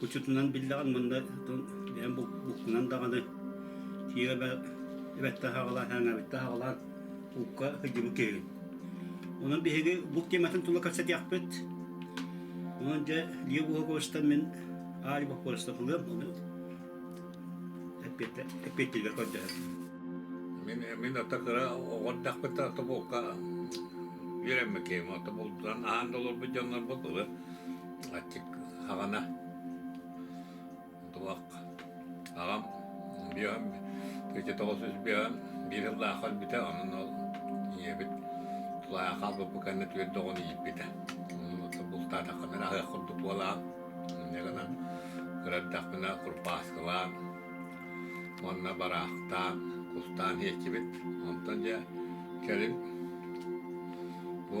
Учутунан биллэҕин манна бэйэм буккунан даҕаны тиэрэ эбэтте хаҕалаан хээҥэбитте хаҕалаан укка кыдьыбыт киһигин. Онон биһиги бук тиэмэтин тула кэпсэтиэхпит. Онон дьэ Лия Буһаковичтан мин Аали Бохоровичтан ылыам, ону эппиэттиилэр көрдөһөр. Мин мин ата кыра оҕордахпыт ата булка үөрэммиккиим, ата булдан аһаан долорбут дьоннорбут ылы аттик аҕана туох аҕам биэһим тыыча тоҕус үс биэһим биир сыллаах өлбүтэ онон ол ийэбит тулаайах хаалбыппыт кэннэ түөрт доҕону ииппитэ бултаатаххына аһыах курдук буолаан инньэ гынан кыраттахпына курпааскылаан уонна бараахтаан кустаан иэччибит онтон дьэ кэлин бу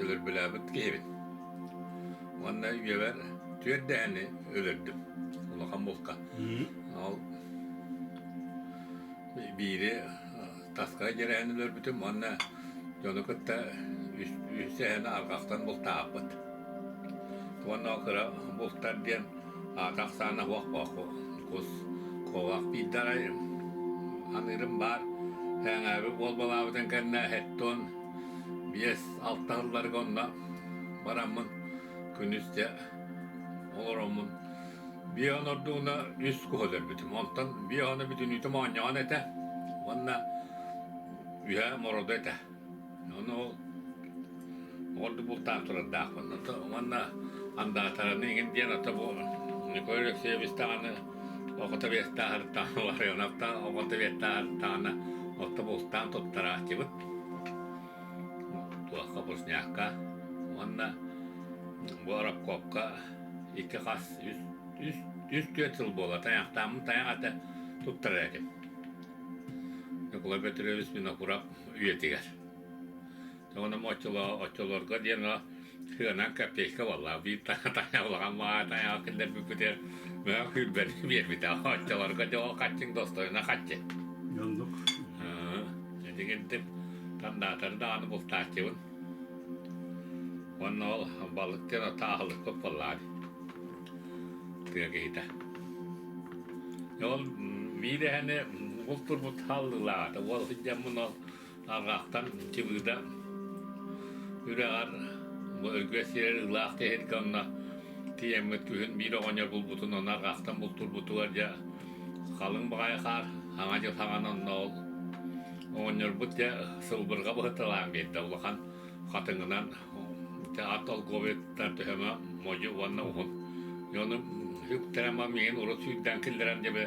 өлөрбөлөөбүт киһибин. Уонна үйэбэр түөрт дэһэни өлөрдүм улахан булка. Ол биири таска дьэрэһин өлөрбүтүм уонна дьону кытта үс дэһэни арҕахтан бултаахпыт. Уонна ол кыра бултар диэн аата ахсаана уох кус куовах биирдаҕай аныырым баар ээҥээби уолбалаабытын кэннэ хеттон Биэс алта сылларга онно бараммын күнүс дьэ олороммун биэ онордууна үс көһөлөрбүтүм. Онтон биэ оно бүтүнүүтүм оонньоон этэ уонна үһэ мороду этэ. Ону ордук бултаан турардаахпын. Уонна андаатараны игин диэн ата бу Николай Алексеевич даҕаны охото биэстааһыртаана Ларионовтаан охото биэстааһыртаана отто бултаан туттарааччыбыт. туохха вкусняшка уонна воробкопка икки хас үс үс үс түөрт сыл буола тайахтааммын тайах ата туттарар этим Ньукула Петрович Винокуров үйэтигэр Тоҕуна оччолоо оччолорго диэн Сыанан копейка буолла, биир улахан маҕа тайаҕа киллэрбиппитигэр мөҕө күүрбэни биэрбитэ. Оччолорго дьоҕо хаччыҥ достойуна хаччы. Оннук. Этигирдим тандаатары даҕаны бултааччыбын. Уонна ол балыктыан отто аһылыкпыт буоллаҕа. Тыа киһитэ. Ол биир эһэни бултурбут халлыылаата. Ол сыдьаммын ол Алҕаахтан Чыбыыда үрэҕэр өйгө сиэр ылаах тиһилгэ онно тиийэммит күһүн биир оҕонньор булбутун ону арҕаахтан бултурбутугар дьэ халыҥ баҕайы хаар аҥа дьыл хаҥан онно ол оҕонньорбут дьэ сылбырҕа быһыыталаан биэрдэ улахан хатыҥынан ат олговиттан төһөмө модьу уонна уһун ону үктэрэн миигин урут сүүрдээн киллэрэн дьэ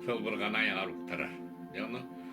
сылбырҕаны айаҕар уктарар дьэ ону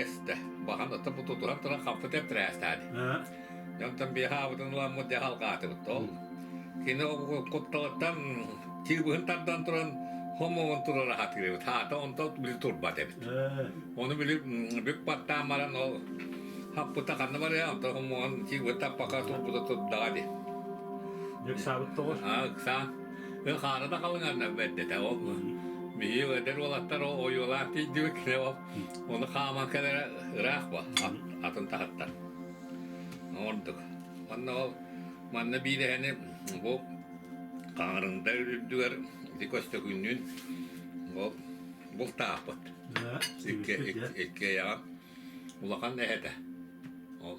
Эс да баҕан оттон бу тутуран туран хампытын тырээстээди. Дьэ онтон биэха аабытын уламмыт дьэ халгаатыбыт ол. Кини кутталыттан тыыбыһын тардан туран хомуон турара хатыырыбыт. Хаата онто били турбат эбит. Оны били бүк баттаан баран ол хаппыта ханна барыа онто хомуон тыыбыт таппака турбута турдаҕа ди. Ыксаабыт тоҕо? А ыксаан. хаары да халыҥарынар бэрдэтэ ол биһиги эдэр уолаттар ойуолаах тиийдибит оны хааман кэлэрэ ыраах ба атын таһыттар ордук онно ол манна биирэһэни бу хаҥарында үрдүгэр ити көстөкүннүүн ол бултаахпыт икки иккиэйэҕэ улахан эһэтэ ол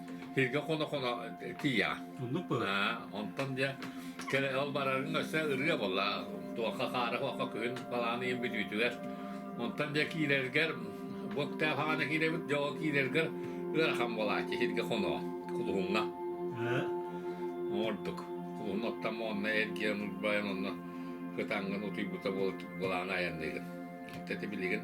Киргэ хоно-хоно тиийэҕэ. Оннук бу. Онтон дьэ ол барарыҥ өссө ырыа буолла. Туохха хаара-хуохха күһүн балааны ийэн бүтүүтүгэр. Онтон дьэ киирэргэр бу китап хаана киирэбит дьоҕо киирэргэр ыарахан буолааччы сиргэ хоно кулуһуҥҥа. Ордук. Кулуһун оттон онно эргиэн урбайан онно кытаҥҥын утуйбута буолан айанныгын. Оттон билигин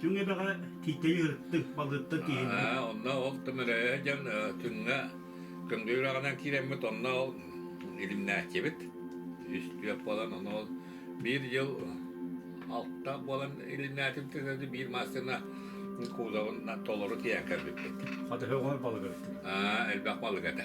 Түҥ эбэҕэ Тиитэйи ырыттыҥ, балыыттан тииһинниҥ. Онно ол тымыры дьон күҥҥэ кымгы үрэҕинэн киирэммит, онно ол илимнээччибит. Үс түөрт буолан, ону ол биир дьыл алта буолан илимнээтим тэтэрdi биир массыына кузовын толору тиийэн кэлбиппит. Хатыһы оҕор балыгырыттын. Аа, элбэх балыга да.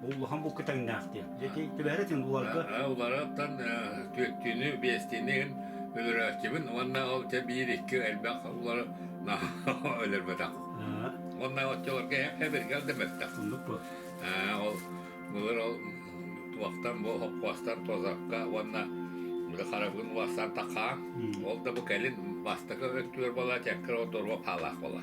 Бу улахан букка тэҥнээх диэн. Дьэки түбэһэр этин буларга. Уларыттан түөттүүнү, биэстиини иһин өлөрөөччүбүн уонна ол те биир икки элбэх улары өлөрбөтөх. Уонна оччолорго эбиргэл да бөттөх. Ол былыр ол туохтан бу хоппуастан тозакка уонна харабын уастан такаан ол да бу кэлин бастакы өттүгэр бола чаккыр ол доруо хаалаах бола